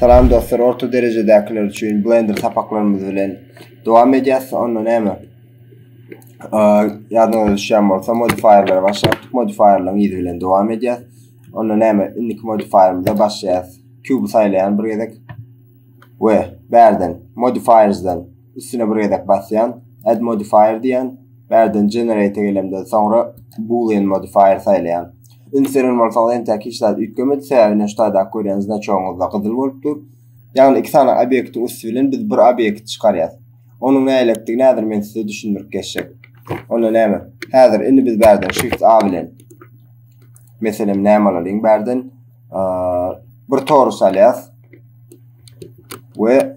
Salam dostlar orta derejedäkiler üçin blender sapaklarymyz bilen dowam edýäs onda näme ýadyňyza düşýän bolsa modifierlere başlaýyk modifierleriň ýüzi bilen dowam edýäs onda näme indiki modifierimize başlaýas kübi saýlaýan bir gezek we bärden modifiersden Üstüne bir gezek basýan, add modifier diýen, bärden generate gelemden soňra boolean modifier saýlaýan. Ünseren bolsaňyz entäk hiç zat üýtgemedi, sebäbi neştadaky görýän znaçogyňyzda gyzyl bolup dur. Ýagny iki sany obýektiň üsti bilen biz bir obýekt çykarýas. Onuň nälektigi häzir men size düşündirip geçjek. Onda näme? Häzir indi biz bärden shift a bilen meselem näme alalyň bärden bir torus alýas we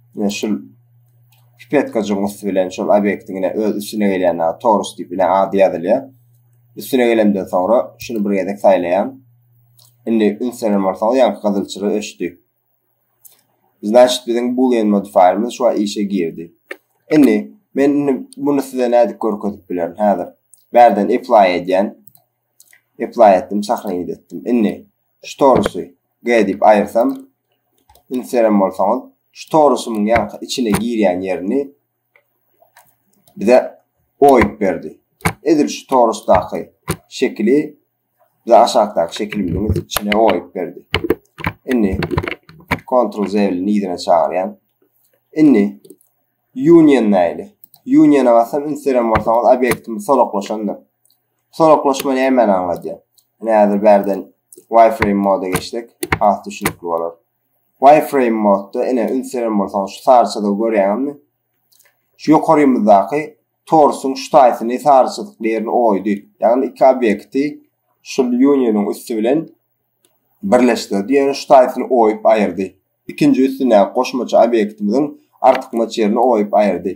Ine şul pipetkajygyň üsti bilen şol obyektiň ine öz üstüne gelýän ýa torus diýip ine ady ýazylýar. Üstüne gelemden soňra şuny bir gezek saýlaýan. Indi ünsenen bolsaňyz ýa gyzylçyra öçdi. Значит biziň boolean modifierimiz şu işe girdi. Indi men indi bunu size nädip görkezip bilerin häzir. Bärden apply edýän. Apply etdim, sahraýyt etdim. Indi Şu torusy G diýip aýyrsam, ünslerem bolsaňyz, şu torusymyň ýaňky içine girýän ýerini bize oýup berdi. Edil şu torusdaky şekili bize aşakdaky şekilimiziň içine oýup berdi. Indi Ctrl Z bilen yzyna çagyrýan. Indi Union näýli? Union-a basam ünslerem bolsaňyz obýektimiz solaklaşandyr. Soraglaşma nämäni aňladýar? Ine häzir bärden wireframe moda geçsek, has düşünikli bolar. Wireframe modda ine üns beren bolsaňyz şu saryçada görýäňizmi? Şu ýokarymyzdaky torsuň şu taýsyny saryçyzykly ýerini oýdy. Ýagny iki obýekti şu unionyň üsti bilen birleşdirdi, ýöne şu taýsyny oýup aýyrdy. Ikinji üstündäki goşmaça obýektimiziň artykmaç ýerini oýup aýyrdy.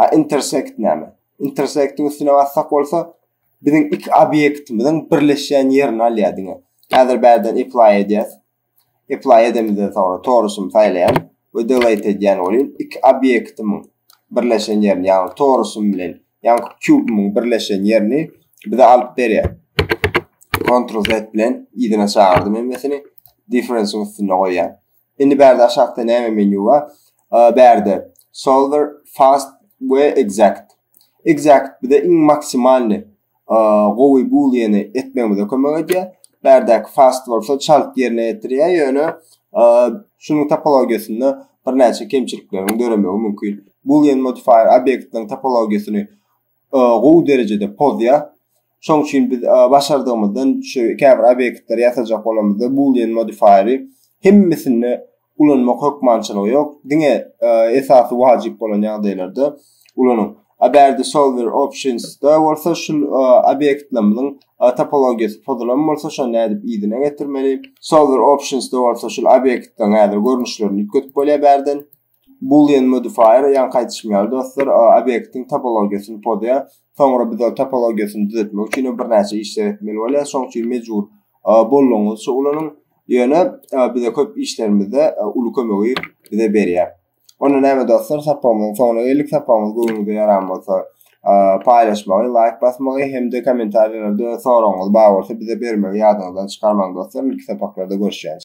A intersect näme? Intersectiň üstüne bassak bolsa, biziň iki obýektimiziň birleşýän ýerini alýar diňe. Häzir bärden apply edýär. Apply edemizden soňra torusum saýlaýan we delete edýän bolýan. Iki obýektimiň birleşen ýerini, ýagny torusum bilen, ýagny kubymyň birleşen ýerini bize alyp berýär. Ctrl Z bilen ýerine çagyrdy men mesini. Difference-iň üstünde goýýan. Indi bärde aşakda näme menýu bar? Bärde solver, fast we exact. Exact bize iň maksimalny gowy booleany etmegimize kömek edýär. Bärdäki fast bolsa çalt ýerine ýetirýär, ýöne şunuň topologiýasynda birnäçe kemçilikleriň döremegi mümkin. Boolean modifier obýektiň topologiýasyny gowy derejede pozýar. Şoň üçin biz başardygymyzdan şu käbir obýektleri ýasajak bolamyzda boolean modifier-i hemmesinde ulanmak hökmançylygy ýok. Diňe esasy wajyp bolan ýagdaýlarda ulanyň. A bärde solver options-da bolsa şu obýektlerimiziň topologiýasy pozulan bolsa şony nädip yzyna getirmeli? Solver options-da bolsa şu obýektleriň häzir görnüşlerini üýtgedip bolýar bärden. Boolean modifier ýaňy gaýdyşym ýaly dostlar obyektiň topologiýasyny pozýar. Soňra biz ol topologiýasyny düzetmek üçin birnäçe işler etmeli bolýar. Şoň üçin mejbur boldugyňyzça ulanyň. Ýöne bize köp işlerimizde uly kömegi bize berýär. Onda näme dostlar, sapagymyzyň soňuna geldik. Sapagymyz göwnüňize ýaran bolsa, paýlaşmagy, laýk basmagy hem-de kommentariýalarda soragyňyz bar bolsa bize bermegi ýadyňyzdan çykarmaň dostlar. Ilki sapaklarda görüşýäris.